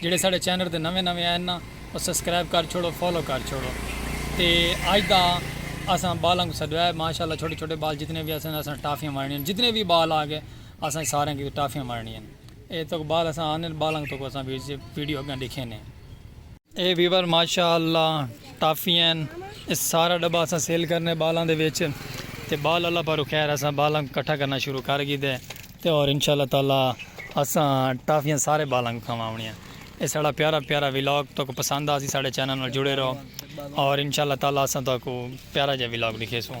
جیڑھے ساڈے چینل تے نویں نویں آئن نا او سبسکرائب کر چھوڑو فالو کر چھوڑو تے اج دا اساں بالاں کو سدویا ہے ماشاءاللہ چھوٹے چھوٹے بال جتنے وی اسن اساں ٹافیاں ونڈنی ہیں جتنے وی بال آ گئے اساں سارے کی ٹافیاں ونڈنی ہیں اے تک بال اساں آنے بالاں تک اساں ویڈیو اگاں ڈیکھینے ہیں اے ویور ماشاء اللہ ٹافی ہن اے سارا ڈبہ اساں سیل کرنے بالاں دے وچ تے بال اللہ پاروں خیر اساں بالاں کٹھا کرنا شروع کر گھیدے تے اور انشاء اللہ تعالی اساں ٹافیاں سارے بالاں کوں کھاواونیاں اے ساڈا پیارا پیارا ولاگ تہاکوں پسند آسی ساڈے چینل نال جڑے رہو اور انشاء اللہ تعالی اساں تہاکوں پیارا جیہا ولاگ ڈکھیسوں۔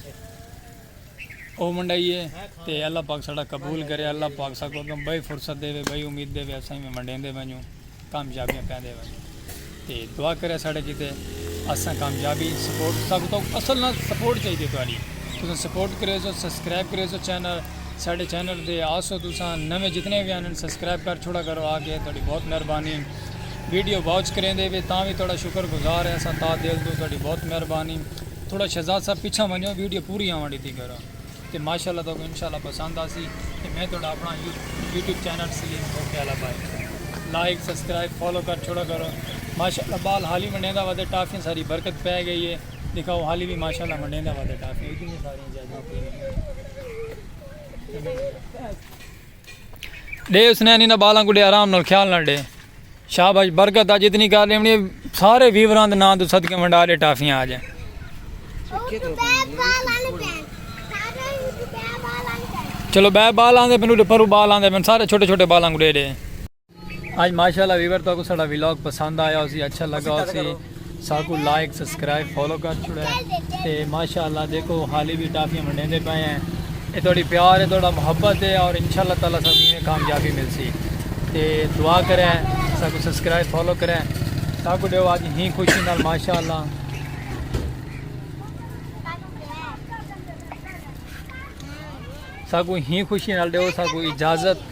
او ونڈائیے تے اللہ پاک ساڈا قبول کرے اللہ پاک ساکوں اگوں بئی فرصت دیوے بئی امید دیوے اساں ایویں ونڈیندے ونجوں کامیابیاں پیندے ونجوں تے دعا کرے ساڈے کیتے اساں کامیابی سپورٹ سب تو اصل نہ سپورٹ چاہیے تہاڈی تساں سپورٹ کرے سو سبسکرائب کرے سو چینل ساڈے چینل دے آسو تساں نویں جتنے بھی آن سبسکرائب کر چھوڑا کرو آ کے تہاڈی بہت مہربانی ویڈیو واچ کریندے وے تاں وی تہاڈا شکر گزار ہیں اساں تا دل تو تہاڈی بہت مہربانی تھوڑا شہزاد صاحب پچھا ونجو ویڈیو پوری آوان ڈیتی کرو تے ماشاءاللہ تو کو انشاءاللہ پسند آسی تے میں تھوڑا اپنا YouTube channel C M okay والا بھائی لائک سبسکرائب فالو کر چھوڑا کرو ماشاءاللہ بال حالی منڈیندا ودے ٹافیاں ساری برکت پے گئی ہے دکھاؤ حالی بھی ماشاءاللہ منڈیندا ودے ٹافیاں اتنی ساری زیادہ ڈے اس نین انہاں بالاں کوں ڈے آرام نال خیال نال ڈے شاباش برکت اج اتنی کر لیونی سارے ویوراں دے ناں تو صدقے ونڈا ڈے ٹافیاں اج چلو بے بالاں دے پنو ڈے پرو بالاں دے پن سارے چھوٹے چھوٹے بالاں کوں ڈے ڈے آج ماشاءاللہ ویور تو کو سڑا ویلاگ پسند آیا ہو سی اچھا لگا ہو سی ساکو لائک سبسکرائب فالو کر چھوڑے تے ماشاءاللہ دیکھو حالی بھی ٹافیاں منڈے دے پائے ہیں اے توڑی پیار ہے توڑا محبت ہے اور انشاءاللہ تعالی سب میں کامیابی مل سی تے دعا کرے ساکو سبسکرائب فالو کرے ساکو دیو آج ہی خوشی نال ماشاءاللہ ساکو ہی خوشی نال دیو ساکو اجازت